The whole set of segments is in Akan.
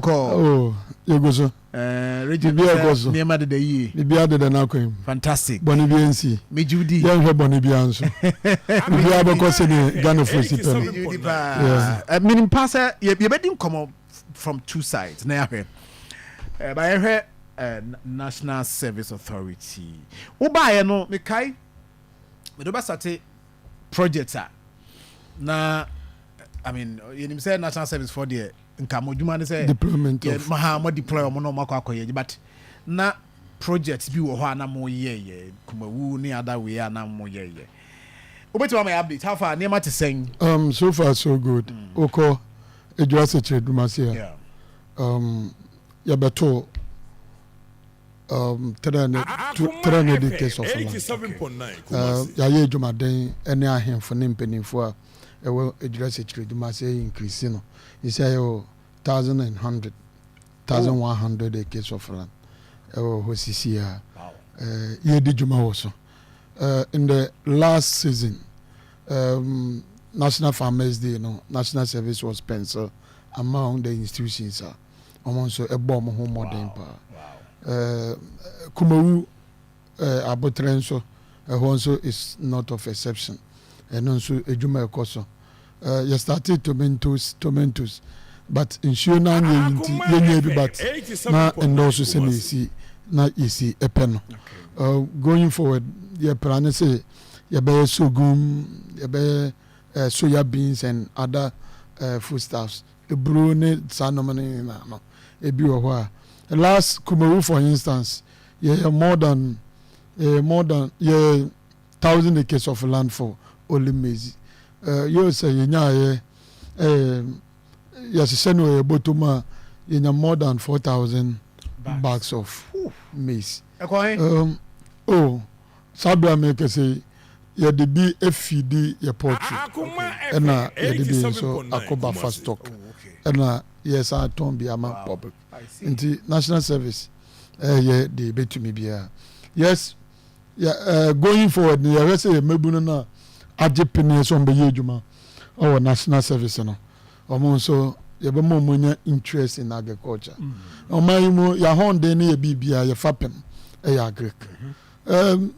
kɔɔ. Oh, yɛgu so. Eh, Regent, Biribi sɛ ɛkɔ so. nneɛma deda yie. Biribi adeda n'akwan mu. Fantastic. Bɔne bi ansi. Megye wo di. Yɛnhwɛ bɔne biara nso. Biribiara bɛkɔ sɛdeɛ Ghanafoɔ si pɛ no. Megye wo di paa. Yeah. Eh, Menim paa sɛ yɛ- yɛbɛdi nkɔmmɔ from two sides na yɛahwɛ. Eh, Ba yɛhwɛ eh, Na- National Service Authority. Wobaeɛ no, mekae mede wobɛsate project a na I mean, yɛnim sɛ National Service foɔ deɛ nka mo adwuma ne sɛ mo deploy ɔmo na ɔmo akɔ akɔyɛ adwuma but na project bi wɔ hɔ a na mo yɛyɛ kumawu ne other way a na mo yɛyɛ wobɛtumi ama yɛ update how far nneɛma te sɛn. Um, so far so good mm. wokɔ adwuma asekyerɛ adwuma ase a yeah. um, yɛbɛto um, 300 acres of land okay. uh, yɛayɛ adwumaden ne ahemfo ne mpanimfoɔ a ɛwɔ Ejura Sekyere Dumaase ayi Nkirisi no, he said yɛwɔ thousand and hundred, thousand one hundred acres of land ɛwɔ hɔ sisi a yɛredi dwuma wɔ so. In the last season, um, National Farmers Day no, National Service was pencil among the institutions a wɔn nso ɛbɔ wɔn ho mmɔden paa. Kumawu Eh, aboterɛ nso, ɛhɔ nso is not of exception, ɛno nso adwuma ɛkɔ so. Eh, yɛ startee tomentos, tomentos, but nsuo no anyɛ yi nti yɛnyaa bi but na ɛnnɔɔso sɛnea ɛsi na yɛsi pɛ no. Eh, going forward, yɛ pra ne sɛ yɛbɛyɛ sorghum, yɛbɛyɛ eh, soya beans and other eh, foodstuffs, eburo ne saa nneɛma no nyinaa no, ebi wɔ hɔ a last Kumawu for instance, Yɛyɛ more than yɛyɛ more than yɛyɛ thousand acres of land for only maize. Uh, yɛ sɛ yɛnyaayɛ um, yɛhyehyɛ no yɛ bɔtɔm a yɛnya more than four thousand bags of maize. Um, oh, saa berɛ a mekɛsɛ yi yɛde bi afidi yɛ poultry ɛna yɛde bi nso akɔ buffer stock ɛna yɛsan atɔn bi ama public. Nti national service ɛyɛ deɛ yɛbɛtumi biara. Yes, yɛ, uh, going forward no yɛhwɛ sɛ yɛ mmabunu no a agye peneɛ sɛ wɔbɛyɛ adwuma wɔ national service no, wɔn nso yɛbɛma wɔn anya interest in agriculture. Mm -hmm. Ɔman yi mu yɛahɔnden no yɛ biribiara yɛfa pem ɛyɛ agric. Mm -hmm. um,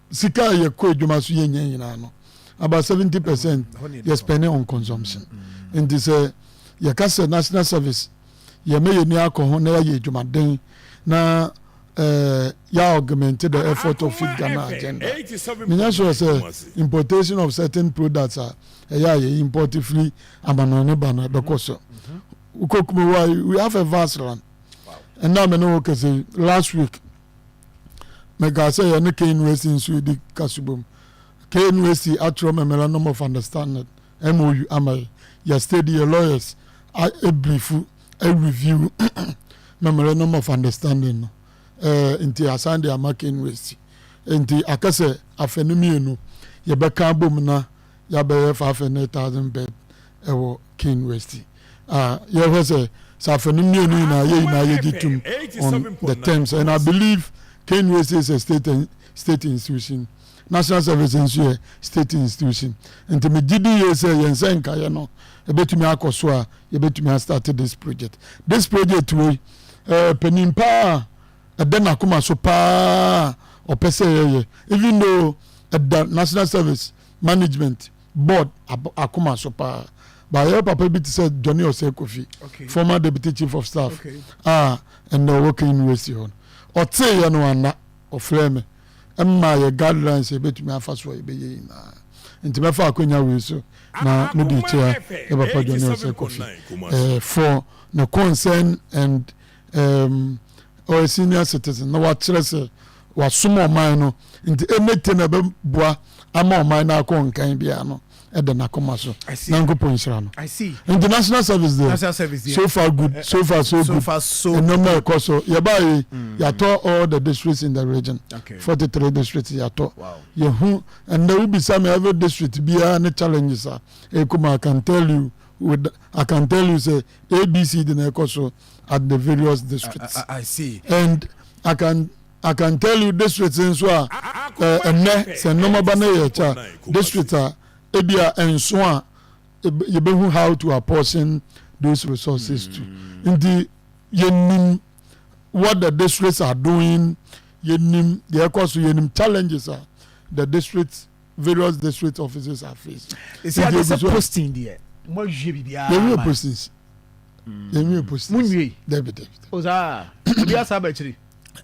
sika a yɛkɔ adwuma so yɛnya nyinaa no about seventy percent yɛ spending on consumption nti sɛ yɛka sɛ national service yɛma yɛni akɔ ho na yɛayɛ adwumaden na uh, ya augment the effort of Feed Ghana agenda. Menya sure sɛ importation of certain products a ɛyɛ a yɛ import firi amanɔne ne ba no ɛbɛkɔ so. Wokɔ Kumawa, we have a vast land. Ɛna me ne wo kɛse last week. mekaa sɛ yɛne KNUST nso redi kasubom. KNUST atwerɛ memorandum of understanding MOU ama yɛ. Yɛ study yɛ lawyers abriefu review memorandum of understanding no. Eh, nti asan de ama KNUST. Nti akɛ sɛ afɛ no mmienu yɛbɛka abom na ya bɛyɛ five hundred thousand bed wɔ King West a yɛ hwɛ sɛ sɛ afɛ no mmienu nyinaa yɛ nyinaa yɛ gye tum on the terms and I believe King West is a state and state institution national service nso yɛ state institution nti me gye di yie sɛ yɛn sɛ nkayɛ no ebetumi akɔ so a yɛbetumi astart this project this project wei ɛɛ panin paa. ɛda n'akoma so paa a ɔpɛ sɛ yɛyɛ even though ɛda National Service Management Board akoma so paa ba yɛwɔ papa bi te sɛ Johnny Osei Kofi former deputy chief of staff a ɛnna ɔwɔ Kenya University hɔ no ɔteeɛ no anna ɔfrɛ me ɛma yɛ guidelines yɛbɛtumi afa so a yɛbɛyɛ nyinaa nti mɛfa akwanya wei so na mede kyea yɛ papa Johnny Osei Kofi eh, for the concern and um, or a senior citizen na wakyerɛ sɛ wasom ɔman no nti ɛmɛte na ɛbɛboa ama ɔman no akɔ nkan biara no ɛda n'akoma so nyankopɔn nhyira no nti national service deɛ so far good eh, so far so good nneɛma ɛkɔ so yɛbaa yi mm. yɛatɔ all the districts in the region forty three districts yɛatɔ yɛhu ɛnna wobisa me every district biara ne challenges a ɛkuma i can tell you with i can tell you say abc de na ɛkɔ so at the various districts uh, uh, I see. and I can I can tell you districts nso a eh, ɛnɛ sɛ nneɛma ba no yɛ kyɛ district a ebi a nso a yɛbɛhu how to apportion those resources to hmm. nti yɛnim what the districts are doing yɛnim deɛ ɛkɔ so yɛnim challenges a the districts various district offices are faced. Esi adi sɛ posting deɛ mo awie biribiara. Yɛn wie postings. Mm. Yɛn wie postings. Mo nwie. David David. O saa ebi asa aba akyiri.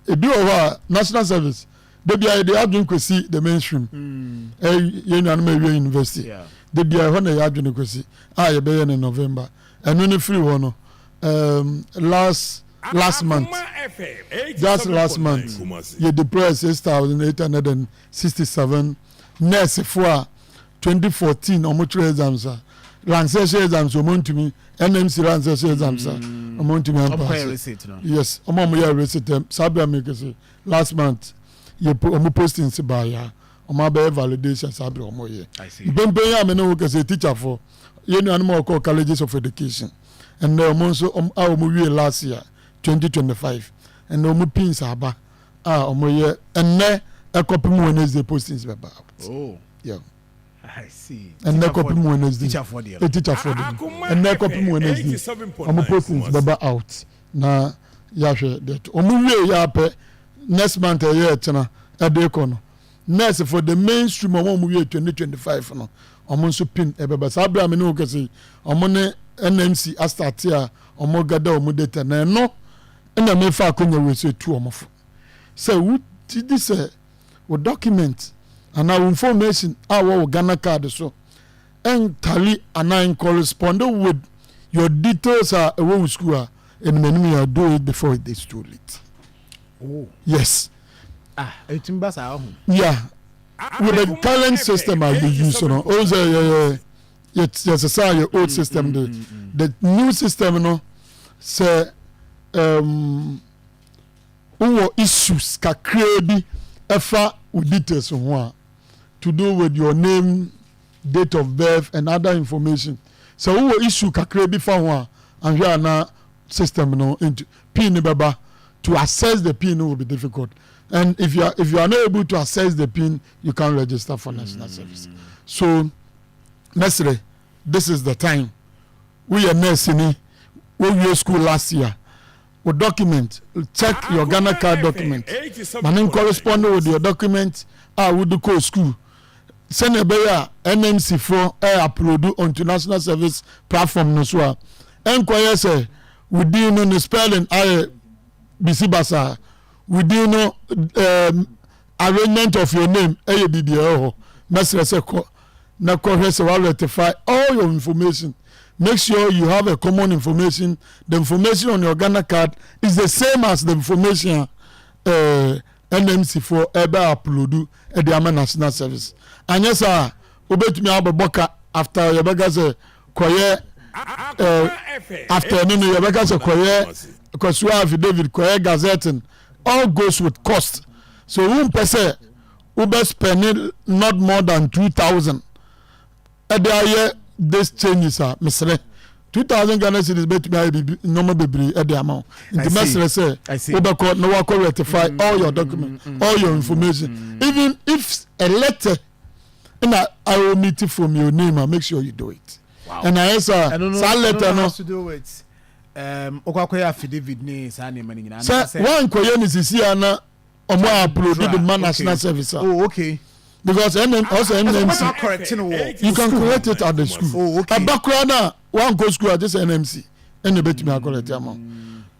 Ebi wɔ hɔ a national service debi a yɛde adwene kwesi the mainstream. Mm. Eh, yɛn nuanom awie university. Yeah. Debi a ɛhɔ na yɛ adwene kwesi a ah, yɛbɛyɛ no November. Ɛno ne firi hɔ no. Um, last last month just last month you deploy six thousand eight hundred and sixty seven nurse fo a twenty fourteen ɔmo kyerɛ exams a ransɛ hyɛ exams ɔmo ntumi nmc ransɛ hyɛ exams a mm. ɔmo ntumi ampaase yes ɔmo ɔmo yɛ receipt eh, saa bia mi kese last month yɛ ɔmo posting si baaya ɔmo abɛyɛ validation saa bia ɔmo yɛ mpempem yɛ amene wo kese teacher fo yɛ nuanom a ɔkɔ colleges of education ɛnna ɔmo nso a ɔmo wie last year twenty twenty five ɛnna ɔmo pins aba. a wɔn yɛ ɛnɛ ɛkɔpem wednesday postings bɛ ba out oh. yeah. ɛnɛ kɔpem wednesday teacherfoɔ de ɛnɛ kɔpem wednesday wɔn postings bɛ ba out na yɛahwɛ deɛ to wɔn wie yɛ apɛ next month ɛyɛ ɛkyena ɛde kɔ no nurse for the mainstream wɔn wɔn wie twenty twenty five no wɔn nso pin ɛbɛ ba saa abira mi ne wɔn kɛse wɔn ne nmc asate a wɔn gada wɔn data na ɛno. Ɛnna mefa akonnwa wei so tu wɔn fo. Sɛ wogye di sɛ wo dɔkumɛnti anaa wo information a ɛwɔ wo Ghana card so ɛntali anaa ɛnkɔrespɔnde with your details a ɛwɔ wo sukuu a, ɛnim anim yɛ do it before it is too late. Oh. Yes. Ah, ɛtumi ba saa ɔho. Yeah. With the current system a yɛ use no, ɔhu sɛ yɛyɛ yɛ yɛ sesaa yɛ old system de the new system no sɛ um, wowɔ issues kakraa bi ɛfa wo details ho a to do with your name date of birth and other information sɛ wowɔ issue kakraa bi fa ho a anhwɛ a na system no nti pin no bɛba to access the pin no will be difficult and if you are if you are not able to access the pin you can register for national service so. mɛsrɛ this is the time woyɛ nurse ni wowie school last year wo document check your Ghana card document ma me correspond with your document a wode kɔɔ school sɛnea ɛbɛyɛ a NMC foɔ ɛ eh, upload onto national service platform no so a ɛnkɔyɛ sɛ wo din no ne spelling ayɛ bisi basaa wo din no ɛɛ. Um, arrangement of your name ɛyɛ biribi ɛwɔ hɔ mɛsrɛ sɛ kɔ na kɔhwɛ sɛ wa rectify all your information make sure you have a common information the information on your Ghana card is the same as the information a ɛɛ eh, NMC foɔ ɛbɛ upload ɛde ama national service anyɛ saa wobɛtumi abɛbɔ ka after yɛbɛka sɛ kɔyɛ ɛɛ eh, after no no yɛbɛka sɛ kɔyɛ kɔsoa affidavit kɔyɛ gazetting All goes with cost, sɛ wo mpɛ sɛ wo bɛ spend not more than two thousand ɛde ayɛ this changes a mesrɛ two thousand Ghana cedis bɛtumi ayɛ biribi nneɛma bebree ɛde ama wo nti mɛsrɛ sɛ wobɛkɔ na wakɔ rectify mm, all your document mm, mm, all your information even if a letter na awo meet from your name a make sure you do it ɛna ayɛ sɛ saa letter no. wokɔ akɔyɛ affidavit ne saa nneɛma no nyinaa sɛ anaasɛ woankɔyɛ no sisi a na ɔmo a upload de ma national service a oh okay because ɛnɛ ɔsɛ ɛsɛ nmc wobɛtumi akɔrɛte no wɔ you can school correct it at the school Oh, okay. ɛba koraa no a woankɔ school a gye sɛ nmc ɛna ɛbɛtumi akɔrɛte ama wo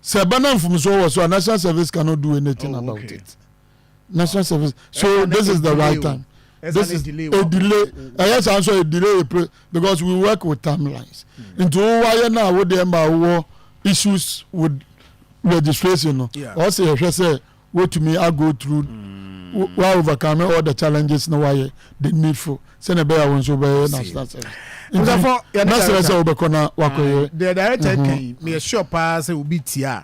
sɛ ɛba na mfomsoɔ wɔ so a national service cannot do anything Oh, about okay. it national service so this is the right time this is a delay ɛyɛ saa nso a delay yɛ because we work with timelines hmm. nti wo wayɛ no a wo deɛ ma wowɔ issues with registration no ɔsɛ yɛhwɛ sɛ wotumi a go through hmm. wa overcome all the challenges na wayɛ the needful sɛnɛ bɛyɛ a wɔn nso bɛyɛ national service nsafo yɛn na sɛrɛ sɛ wobɛkɔ na wakɔyɛ deɛ director kan mi yɛ sure paa sɛ obi tia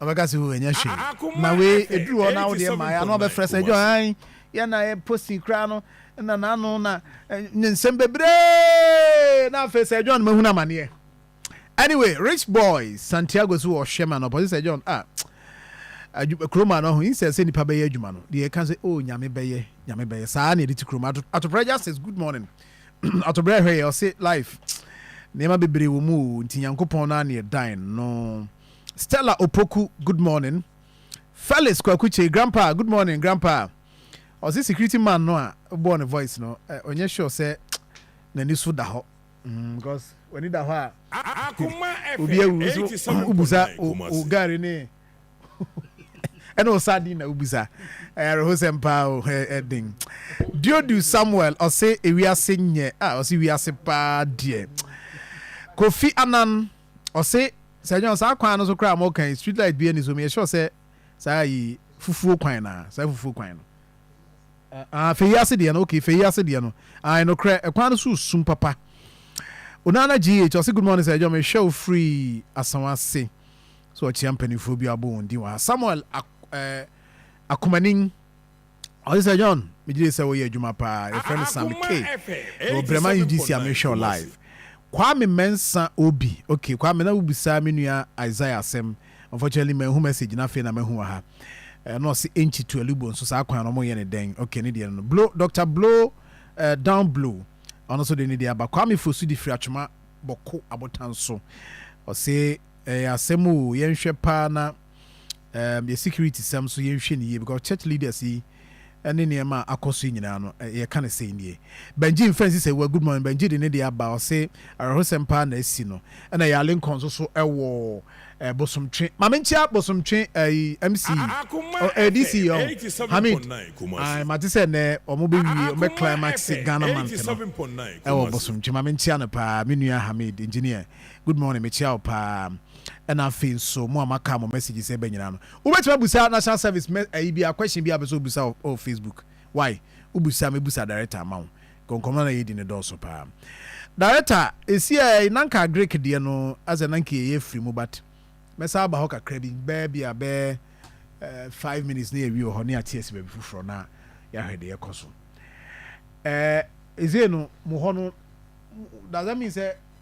Ɔbɛka sɛ o ɛnyɛ hwee. Na wei ɛduru hɔ na wodeɛ ma ano abɛfrɛ sɛ dwo han yɛ na yɛ posting koraa no na n'ano na ne nsɛm bebree na afei sɛ John mahunu amaneɛ. Anyway, Rich Boy Santiago so wɔ hwɛ ma no ɔpɔsi sɛ John ah kurom a no ho insɛ sɛ nipa bɛyɛ adwuma no deɛ ɛka sɛ oh nyame bɛyɛ nyame bɛyɛ saa na ɛde ti kurom atobrɛ justice good morning atobrɛ ɛhwɛ yɛ ɔse life nneɛma bebree wɔ mu o nti nyankopɔn no a ne ɛdan no Stella Opoku good morning Felix Kwaku Kyei grandpa good morning grandpa ɔse security man no a bɔɔ ne voice no eh, ɔnyɛ sure sɛ n'ani so da hɔ mm, because w'ani da hɔ a obi awu nso wobusa wo gari ne ɛna ɔsa din na wobisa ɛrehosɛm paa o ɛden diodu samuel ɔse ewiase nyɛ a ɔse wiase paa deɛ kofi anan Ɔse sɛ nyɛ saa kwan no so koraa a moka yi street light biaa nni so meyɛ sure sɛ saa ayi fufuo kwan no aa saa fufuo kwan no aa fei ase deɛ no okay fei ase deɛ no ae nokorɛ kwan no so sum papa Onana GH ɔse good morning sɛ nyɛ mehwɛ wo firi asawase sɛ ɔkyea mpaninfoɔ bi a wobɔ wɔn din wɔ ha Samuel Ak eh, Akomanin. Ɔse sɛ John megyedie sɛ woyɛ adwuma paa yɛfrɛ no Sam K wɔ Brema UGC a mehwɛ wo live Kwame Mensa Obi ok Kwame na wobisaa me nua Isaiah asɛm unfortunately manhu message no afei na mahu wɔ ha na ɔse Enchi to Alubo nso saa kwan no wɔyɛ no dɛn ok ne deɛ no no Blow Doctor Blow eh, Down Blow ɔno nso de ne deɛ aba Kwame Fosu de firi Atwoma Bɔko abotan so ɔse ɛyɛ asɛm o yɛnhwɛ paa na um yɛ security sɛm so yɛnhwɛ no yie because church leaders yi ɛne nneɛma a akɔ so yi nyinaa no yɛka no sɛi nie Benji mfa nsi sɛ wa good morning Benji de ne deɛ aba ɔse awerɛhosɛm paa na asi no ɛna yɛ alenkɔ nso so ɛwɔ eh, bosomtwe ma menkyia bosomtwe ɛyi eh, mc oh, eh, dc yɛ ho Hamid ai mate sɛ nnɛ ɔmo bɛwie ɔmo bɛ climax Ghana month no ɛwɔ bosomtwe ma menkyia no paa me nua Hamid engineer good morning mekyia wo paa ɛna afei nso mo a maka mo messages ɛbɛ nyinaa no wobɛtumi abusa national service mɛ ɛyi bi a question bi a bɛsɛ obusa wɔ oh, facebook why wobusa me busa director ama wo nkɔnkɔmɔ na yɛdi ne dɔɔso paa director esi ɛ nanka greek deɛ no asɛ nanka yɛyɛ firi mu but mɛsa aba hɔ kakra bi bɛɛ bi a bɛɛ uh, five minutes na yɛwie wɔ hɔ ne ate asi baabi foforɔ na yɛahwɛ deɛ ɛkɔ so uh, ɛzei no mo hɔ no does that mean sɛ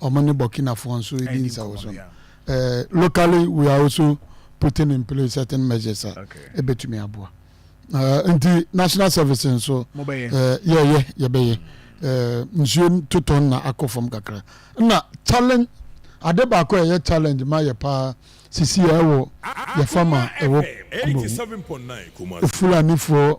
Ɔmo ne Burkina foɔ nso redi nsawoso no. Locally we are also putting in place certain measures a ɛbɛtumi aboa. Nti national service nso yɛyɛ yɛbɛyɛ. Nsuo totɔ nna akɔ fam kakra. Nna challenge ade baako a ɛyɛ challenge ma yɛ paa sisi a ɛwɔ yɛ farm a ɛwɔ Kumawu. Fulanifoɔ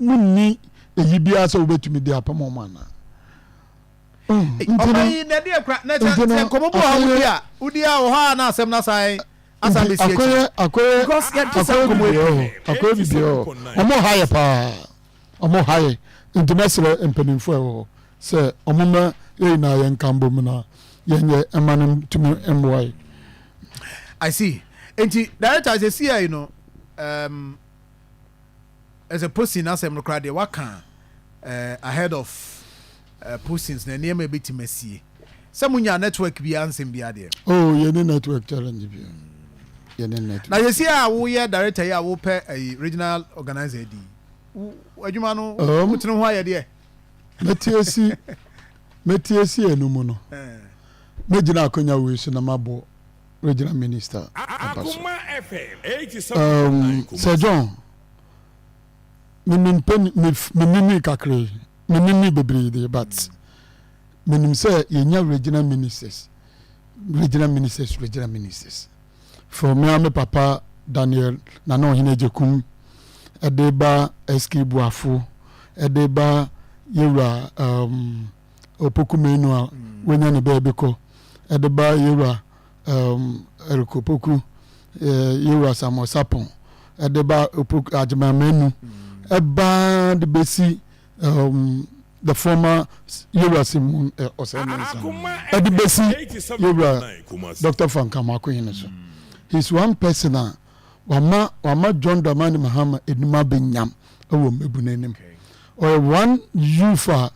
wonni eyi biara sɛ wobɛtumi de apam wɔn anaa ɔma yi na ɛde akura na kyɛ sɛ nkɔmɔ bu a wodi a wodi a wɔ hɔ a na asɛm na asan asan bɛ si akyi akɔyɛ akɔyɛ because yɛ ti sɛ nkɔmɔ ebi hɔ akɔyɛ bi biara hɔ ɔmo ha yɛ paa ɔmo ha yɛ nti mɛsrɛ mpanimfoɔ ɛwɔ hɔ sɛ ɔmo mɛ yɛ nyinaa yɛn nka mbɔ mu na yɛn yɛ ɛma no tumi mmoa yɛ. I see nti director sɛ si yɛ yi no. Um, ɛsɛ Postin asɛm no koraa deɛ waka ahead of postings na nneɛma ɛbɛtumi asie sɛ mo nyaa network biara nsɛm biara deɛ. Oh yɛne network challenge biara yɛne network. Na yɛsi a woyɛ director yi a wopɛ ɛyi regional organizer di adwuma no um, wotene ho ayɛ deɛ. Mɛtiesi mɛtiesi ɛnu mu no mɛgyina akonya wei so na mabɔ. regyina minista aba so. Um, Sir John, menim pɛ menini kakra yi, menini bebree deɛ but menim sɛ yɛnya regional ministers, regional ministers, regional ministers. For me and me papa Daniel Nana Ohene Jekum, ɛde ba SK Buafo, ɛde ba yɛwura um, Opoku Manu a wanya ne baabi kɔ de ba Yewura um, Eric Opoku, uh, Yewura Samuel Sapon de ba Opoku Agyeman Manu ɛbaa de bɛsi um, the former Yewura Simon uh, Osei Mensah de bɛsi Yewura Dr. Frank Amoako Hene so. He's one person a uh, Wama wama John Dramani Mahama anim abɛ nyam wɔ mmabunu anim. Ɔyɛ one youth a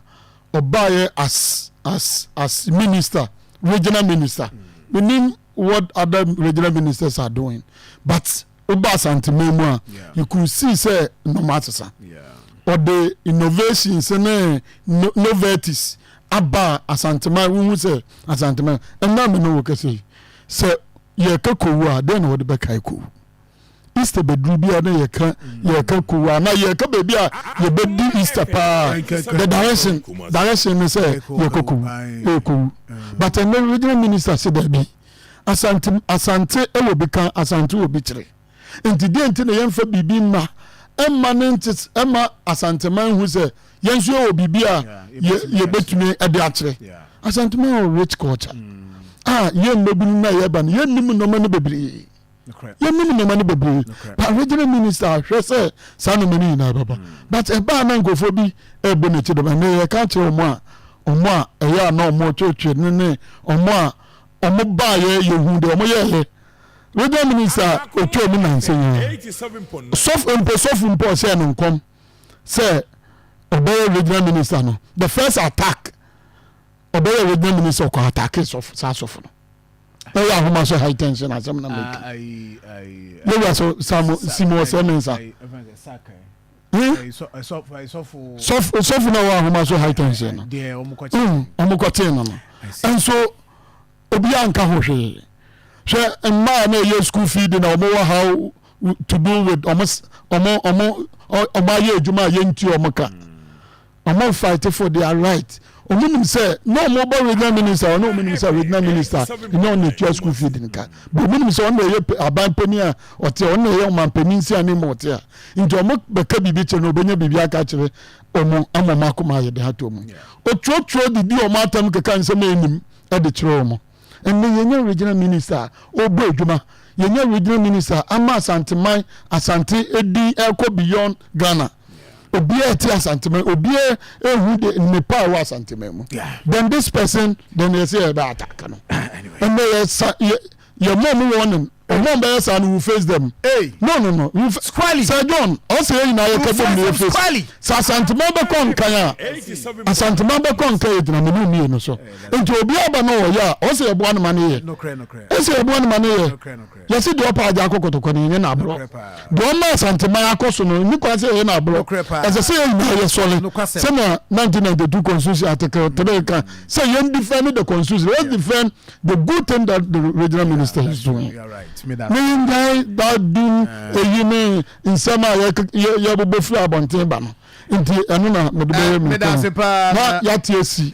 ɔbaeɛ as as as minister, regional minister. Me nim what other regional ministers are doing but woba Asanteman mu a yeah. you could see sɛ nnɔma asesa. Ɔde yeah. innovations ne no, novelties aba Asanteman wohu sɛ Asanteman ɛnna me ne wo kɛsɛ yi. Sɛ yɛka kowu a, dɛn na wɔde bɛkae kowu? Easter bɛduru biara na yɛka yɛka kowu a, na yɛka baabi a yɛbɛdi Easter paa. The direction, direction ne sɛ yɛkɔ kowu, ɛyɛ kowu. But ɛnɛ regional minister se daabi, Asante, Asante wɔ bi ka, Asante wɔ bi kyerɛ. Enti deɛn nti na yɛmfa biribi mma mma ne nte mma Asanteman nhu sɛ yɛn nso yɛwɔ biribi a yɛbɛtumi de akyerɛ? Asanteman wɔ rich culture mm. a yɛn mmabunu no a yɛba no yɛnnim nnoɔma no bebree yɛnim nnoɔma no bebree pa regional minister ahwɛ sɛ saa nnoɔma no nyinaa bɛba mm. but ɛbaa na nkurɔfoɔ bi ɛbɔ n'akyi dɛm ɛnɛ yɛka kyerɛ wɔn a wɔn a ɛyɛ a na wɔtwetwe ne ne wɔn a Wɔn baayɛ yɛhuu deɛ wɔn yɛɛyɛ radio minister ɔtwa mu nansa nyinaa sɔfo mpo sɔfo mpo ɔhyɛɛ no nkɔm sɛ ɔbɛyɛ regional minister no the first attack ɔbɛyɛ regional minister ɔkɔ attack sɔfo saa sɔfo no ɛyɛ ahoma so high tension asɛm na mɛka yɛwia so samo simo ɔsɛ mensa sɔfo na ɔwɔ ahoma so high times no ɔmo kɔtee no no nso obiara nka ho hwee hwɛ mmaa na ɛyɛ school fee de na ɔmo wɔ how to do with ɔmo ɔmo ɔmo ɔmo ayɛ adwuma a yɛnti ɔmo ka Ɔmo fight for their right. Ɔmo nim sɛ na ɔmo bɔ regional minister ɔno ɔmo nim sɛ regional minister nyɛ ɔna etua school fee de nka. But ɔmo nim sɛ ɔna ɛyɛ aban panyin a ɔte a ɔna ɛyɛ ɔman panyin si anim ma ɔte a. Nti ɔmo bɛka biribi kyerɛ no ɔbɛnya biribi aka akyerɛ ɔmo ama ɔmo akoma ayɛ de ato ɔmo. Ɔtwerɛtwerɛ de di ɔmo atam keka nsɛm a ɛnim de kyerɛ ɔmo. Nnɛ yɛnya Regional Minister a ɔbɔ adwuma, yɛnya Regional Minister ama Asanteman, Asante din ɛrekɔ beyond Ghana. Obiara ɛte Asanteman, obiara ɛhu de nnepa a ɛwɔ Asanteman mu. Then this person, then yɛsɛ yɛbɛ attack no. Nnɛ yɛsa, yɛ, yɛmɔ mu warning. Ɔmɔn bɛyɛ saa no wu face dɛm ei. No no no wu face Sir John ɔsɛ yɛn nyinaa yɛ kɔ bom na yɛ face sɛ Asanteman bɛ kɔ nkan a Asanteman bɛ kɔ nkan yɛ gyina mene mmienu so nti obiara ba na ɔyɛ a ɔsɛ yɛ boa no ma no yɛ ɔsɛ yɛ boa no ma no yɛ yɛ se deɛ ɔpɛ agya akɔ kɔtɔkɔ no yɛ nyɛ no aborɔ deɛ ɔma Asanteman akɔ so no nni kwan sɛ yɛ yɛ no aborɔ ɛsɛ sɛ yɛ nyinaa yɛ sɔre sɛnea 1992 constitution article 3 ka sɛ yɛn defend the constitution let's defend the good thing that the regional minister yeah, is doing ne nyae that dum eh. eyi ne nsɛm a yɛbobɔ firi abɔnten ba no nti ɛno na mede bɛyɛ me na yɛate asi